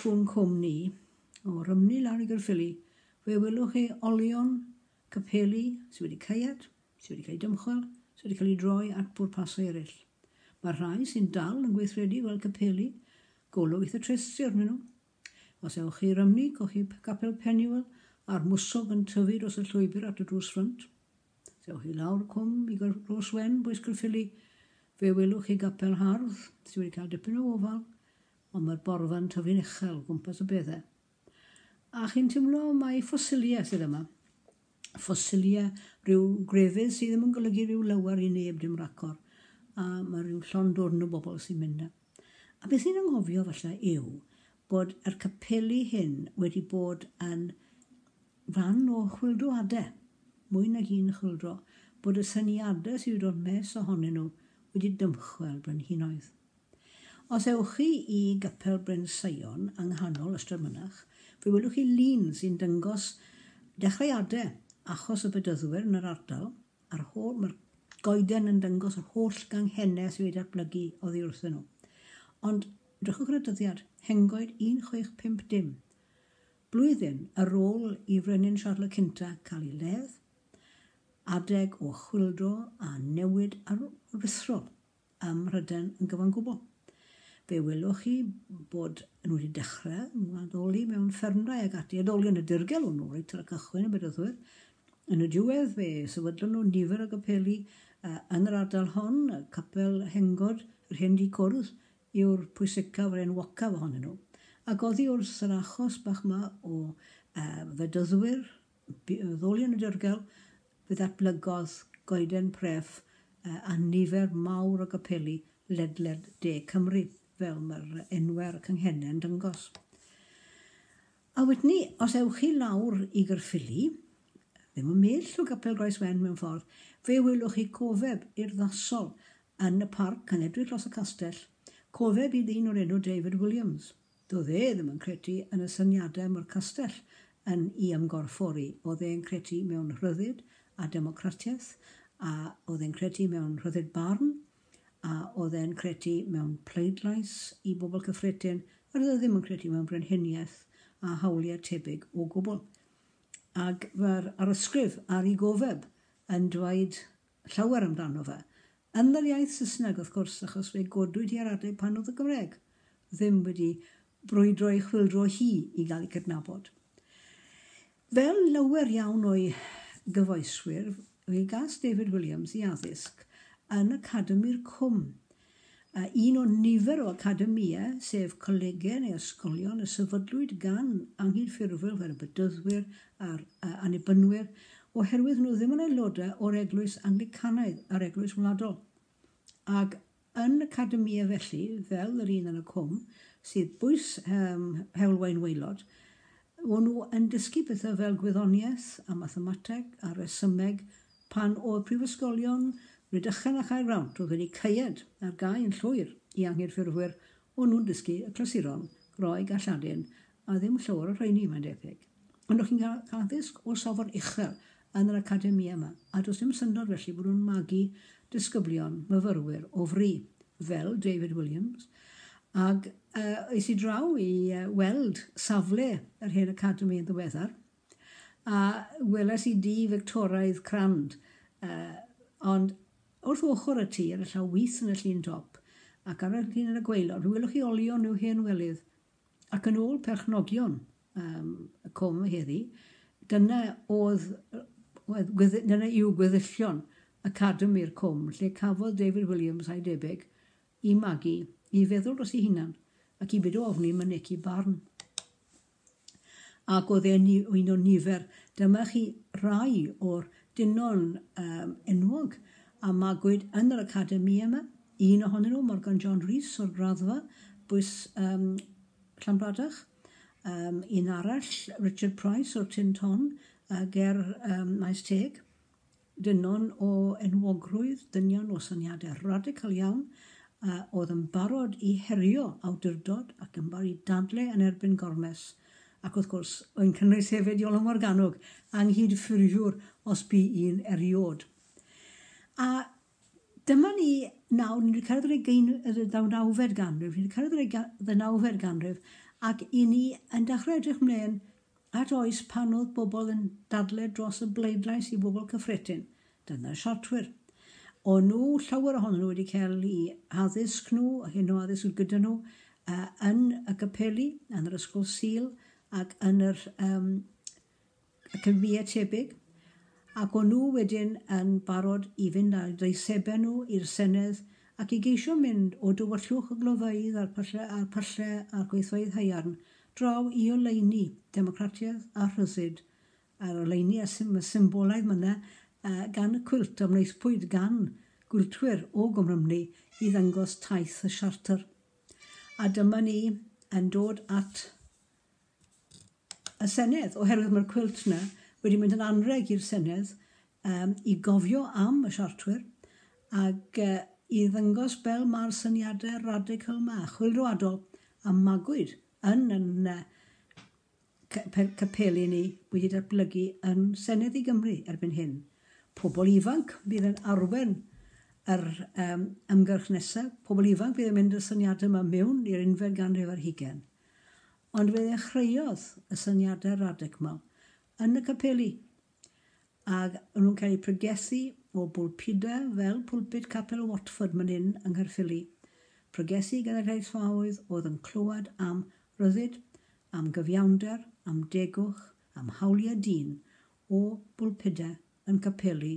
trwy'n cwm ni, o Rymni lawr i Gyrffili, fe welwch chi olion capeli sydd wedi caead, sydd wedi cael ei dymchwel, sydd wedi cael ei droi at bwrpasau eraill. Mae'r rhai sy'n dal yn gweithredu fel capeli Golwith y Tresu arnyn nhw. Os ewch chi i Rymni, cochib Capel Peniwel a'r mwsog yn tyfu dros y llwybr at y drws ffrynt. Os ewch chi lawr cwm i Gros Wen, Bwys Caerffili, fe welwch chi gapel hardd sydd wedi cael dipyn o ofal, ond mae'r borfa yn tyfu'n uchel o gwmpas y beddau. A chi'n teimlo mai ffosiliau sydd yma. Ffosiliau rhyw grefydd sydd ddim yn golygu rhyw lawer i neb dim racor. A mae rhyw llond dwrn o bobl sy'n mynd na. A beth ni'n anghofio falle yw bod yr capeli hyn wedi bod yn fan o chwyldroadau, mwy nag un chwyldro, bod y syniadau sydd wedi dod mes ohonyn nhw wedi dymchwel brenhinoedd. Os ewch chi i Gapel Bryn Sion yng nghanol Ystrad Mynach, fe welwch chi lun sy'n dangos dechreuadau achos y Bedyddwyr yn yr ardal, A'r holl, mae'r goeden yn dangos yr holl ganghennau sydd wedi datblygu oddi wrthyn nhw. Ond drychwch ar y dyddiad, Hengoed 1650, blwyddyn ar ôl i Frenin Siarl y Cynta cael ei ledd, adeg o chwyldro a newid aruthrol. ym Mhrydain yn gyfan gwbl. Fe welwch chi bod nhw wedi dechrau addoli mewn ffermdai ac ati, addoli yn y dirgel hwnnw reit ar y cychwyn yn Bedythwyr. Yn y diwedd fe sefydlon nhw nifer o gapeli yn yr ardal hon, capel Hengod, yr hen dŷ cwrdd, yw'r pwysicaf a'r enwocaf ohonyn nhw. Ac oddi wrth yr achos bach 'ma o Fedyddwyr Bu y ddwy yn ddirgel, fe ddatblygodd goeden pref a nifer mawr o gapeli ledled de Cymru, fel mae'r enwau ar y canghennau yn dangos. A wedyn os ewch chi lawr i Gaerffili, ddim yn mell o Gapel Groeswen mewn ffordd, fe welwch chi cofeb urddasol yn y parc yn edrych dros y castell, cofeb i ddyn o'r enw David Williams. Doedd e ddim yn credu yn y syniadau mae'r castell yn 'u ymgorffori. Oedd e'n credu mewn rhyddid a democratiaeth, a oedd e'n credu mewn rhyddid barn, a oedd e'n credu mewn pleidlais i bobl cyffredin, a doedd e ddim yn credu mewn brenhiniaeth a hawliau tebyg o gwbl. Ag mae'r arysgrif ar 'i gofeb yn dweud llawer amdano fe, yn yr iaith Saesneg wrth gwrs, achos fe godwyd hi ar adeg pan oedd y Gymraeg ddim wedi brwydro ei chwyldro hi i gael ei cydnabod. Fel llawer iawn o'i gyfoeswyr, fe gas David Williams i addysg yn Academi'r Cwm, a un o nifer o academïau, sef colegau neu ysgolion, y sefydlwyd gan anghydffurfwyr fel y Bedyddwyr a'r Annibynwyr oherwydd nhw ddim yn aelodau o'r Eglwys Anglicanaidd a'r Eglwys Wladol. Ac yn academïau felly, fel yr un yn y Cwm, sydd bwys um, heulwain waelod, o'n nhw yn dysgu pethau fel gwyddoniaeth a mathemateg a resymeg Pan oedd prifysgolion Rhydychen a Chaergrawnt oedd wedi caead ar gau yn llwyr i anghydffurfwyr, o'n nhw'n dysgu y clasuron, Groeg a Lladin, a ddim llawer o'r rheini, mae'n debyg. Ond o'ch chi'n cael addysg o safon uchel yn yr academïau yma, a does dim syndod felly bod nhw'n magu disgyblion, myfyrwyr, o fri, fel David Williams. Ac uh, es i draw i uh, weld safle yr hen academi yn ddiweddar, A weles i dŷ Fictoraidd crand, ond wrth ochr y tŷ ar y llaw wys yn y llun dop, ac ar y llun yn y gwaelod, fe welwch chi olion i'w hen welydd. Ac yn ôl perchnogion um, y com heddi, dyna oedd, oedd dyna yw gweddillion Academi'r com, lle cafodd David Williams a'i debyg i magu, i feddwl dros ei hunan, ac i byd o ofni mynegi barn. ac oedd e'n un o nifer. Dyma chi rai o'r dynon um, enwog a magwyd yn yr academi yma. Un ohonyn nhw, Morgan John Rhys o'r graddfa, bwys um, Llanbradach. Um, un arall, Richard Price o'r Tin Ton, uh, ger um, Maes Teg. Dynion o enwogrwydd, dynion o syniadau radical iawn, a oedd yn barod i herio awdurdod ac yn barod i dadle yn erbyn Gormes, ac wrth gwrs, yn cynnwys hefyd Iolo Morganwg, anghydffurfiwr os bu un eriod. A dyma ni nawr, ni wedi cyrraedd yr ddeunawfed ganrif, ni wedi cyrraedd yr ddeunawfed ganrif, ac i ni yn dechrau edrych mlaen At oes pan oedd pobl yn dadle dros y bleidlais i fobl cyffredin, dyna'r siartwyr. O'n nhw, llawer ohonyn nhw wedi cael i addysg nhw, hyn o addysg gyda nhw, yn y capeli, yn yr ysgol Sul ac yn yr um, academïau tebyg, ac o'n nhw wedyn yn barod i fynd â'i deisebau nhw i'r Senedd ac i geisio mynd o dywyllwch y glofeydd a'r pyllau a'r, pyllau a'r gweithfeydd haearn draw i oleuni democratiaeth a rhyddid a'r oleuni a symbolaidd myna gan y cwilt a wnaethpwyd gan gwiltwyr o Gymrymni i ddangos taith y siartr. A dyma ni yn dod at y Senedd, oherwydd mae'r cwilt yna wedi mynd yn anrheg i'r Senedd Yym, i gofio am y Siartwyr, ac i ddangos fel mae'r syniadau radical 'ma, chwilroadol, a magwyd yn yn capeli ni wedi datblygu yn Senedd i Gymru erbyn hyn. Pobl ifanc fydd yn arwain yr yym ymgyrch nesa', pobl ifanc fydd yn mynd â'r syniadau 'ma miwn i'r unfed ganrif ar hugain. Ond fe ddechreuodd y syniadau radical yn y capeli, Ac o'n nhw'n cael eu pregethu o bwlpudau fel pwlpud Capel Watford man hyn yng Nghaerffili. Pregethu gan y rheithfaoedd oedd yn clywed am ryddid, am gyfiawnder, am degwch, am hawliau dyn, o bwlpudau yn capeli